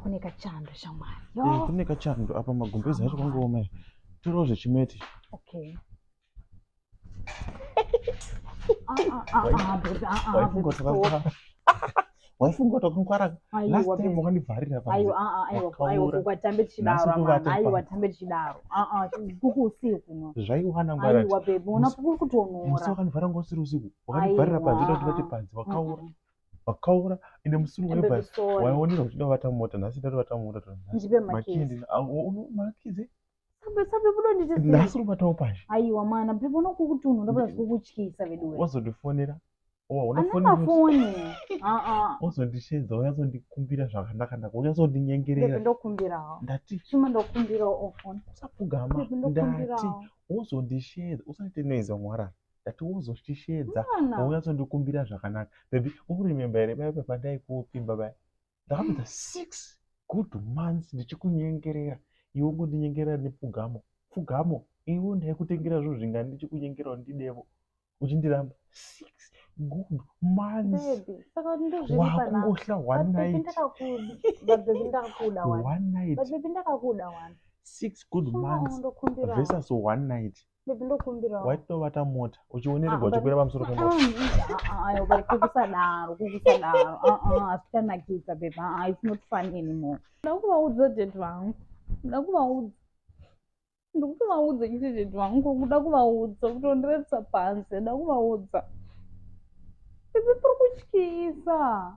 kune kachando shamwari eh, kune kachando apa magumbezi acho kwangooma ere torawo zvechimeti okay waifunga kuti wakangwara last time wakandivharira paaaiwatambe tichidaroaiwa tambe tichidaro kuku usiku zvaiwana ngwaraaiwa bebe ona kuku kutonora wakandivharira ngosiri usiku wakandivharira panze kuti vati panze wakaura vakaura ende musuru wevhai waionera uchida kuvata mota nhasi ndati vata mota tonakizi nhasi unobatawo pashi aiwa mana pepo nokukutunhu ndakuda zvikukutyisa veduwe wazondifonera wazondishenza wazondikumbira zvakanaka naka wazondinyengererausapfugama ndati wozondishenza usaite noise wamwarara ndati wozoshisheedza wauya zondikumbira zvakanaka bebi ukurememba here baya papandaikuopimba baya ndakapedza mm. six good months ndichikunyengerera iwe ungondinyengerera nepfugamo pfugamo iwe ndaikutengera zvinhu zvingani ndichikunyengera undidevo uchindiramba six good monthswakungohla one night six good months versus one night Baby ndokumbira. Waitovata mota uchionerwa uchikwira pamusoro pemota. Ayo bari kukusadaro kukusadaro. Ah ah asikanakidza baby. Ah it's not fun anymore. Ndakuvaudza dad vangu. Ndakuvaudza. Ndikutovaudza chete dad vangu kuda kuvaudza kutondirevisa panze ndakuvaudza. Baby tiri kutyisa.